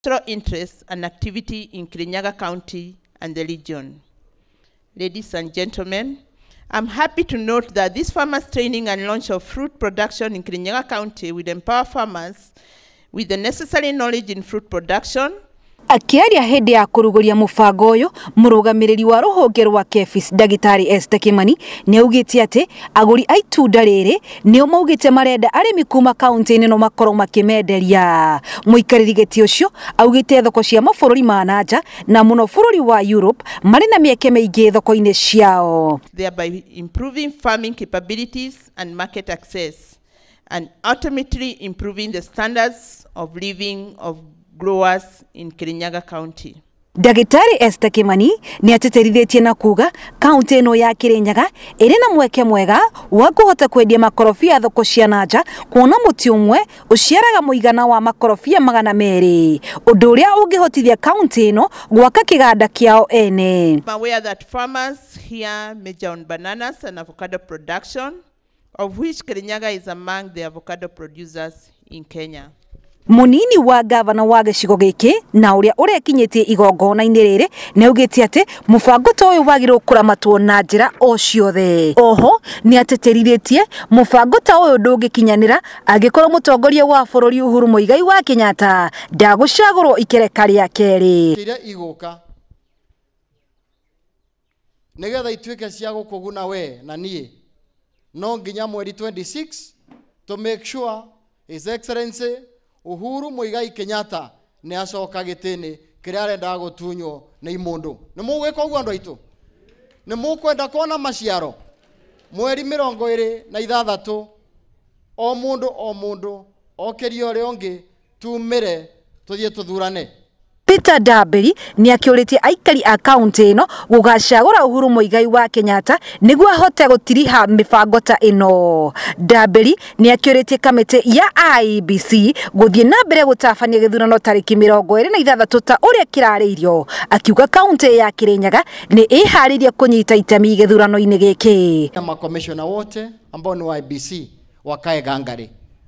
cultural interests and activity in Kirinyaga County and the region. Ladies and gentlemen, I'm happy to note that this farmers training and launch of fruit production in Kirinyaga County will empower farmers with the necessary knowledge in fruit production, Akĩaria hĩndĩ ya kũrugũria mũbango ũyũ, mũrũgamĩrĩri wa rũhonge rwa KEPHIS ndagĩtarĩ Esther Kimani nĩ augĩte atĩ agũri a itunda rĩrĩ nĩo maugĩte marenda arĩmi kuma kaunti-inĩ no makorwo makĩmenderia mũikarĩri gĩtĩ ũcio augĩte thoko cia mabũrũri ma nanja na mũno bũrũri wa Europe marĩ na mĩeke mĩingĩ thoko-inĩ ciao thereby improving farming capabilities and market access, and ultimately improving the standards of living of growers in Kirinyaga County. Ndagĩtarĩ Esther Kĩmani nĩatĩtĩrithĩtie na kuga kaunti ĩno ya Kĩrĩnyaga ĩrĩ na mweke mwega wa kũhota kwendia makorobia thoko cia na nja kuona mũtĩ ũmwe ũciaraga mũigana wa makorobia magana merĩ ũndũ ũrĩa ũngĩhotithia kaunti ĩno gwaka kĩganda kĩao ene. I'm aware that farmers here major on bananas and avocado production. of which Kirinyaga is among the avocado producers in Kenya. Mũnini wa ngavana wa gĩcigo gĩkĩ na ũrĩa ũrekinyĩtie igongona-inĩ rĩrĩ nĩ augĩte atĩ mũbango ta ũyũ wagĩrĩirwo kũramatwo na njĩra o ciothe. Oho nĩ atĩtĩrithĩtie mũbango ta ũyũ ndũngĩkinyanĩra angĩkorwo mũtongoria wa bũrũri Uhuru Mũigai wa Kenyatta ndagũcagũrwo ikereka rĩa kerĩ. iria igũka nĩgetha ituĩke cia gũkũguna we na niĩ no nginya mweri 26 to make sure his excellency uhuru muigai kenyatta nĩ acoka gĩtĩnĩ kĩrĩa arendaga gũtunywo nĩ imũndũ nĩ mũgwĩka ũguo andũ aitũ nĩ mũkwenda kuona maciaro mweri mĩrongo ĩrĩ na ithathatũ o mũndũ o mũndũ okĩrie ũrĩa ũngĩ Tumĩre tũthiĩ tũthurane. Peter Ndambĩri nĩakĩũrĩtie aikari a kauntĩ ĩno gũgacagũra Uhuru Mũigai wa Kenyatta nĩguo ahote gũtiriha mĩbango ta ĩno. Ndambĩri nĩakĩũrĩtie kamĩtĩ ya IEBC gũthiĩ na mbere gũtabania gĩthurano tarĩki mĩrongo ĩrĩ na ithathatũ ta ũrĩa kĩrarĩirio akiuga kauntĩ ya Kĩrĩnyaga nĩ ĩharĩirie kũnyita itemi gĩthurano-inĩ gĩkĩ. Makomishona wote ambao ni wa IEBC wakae gangari.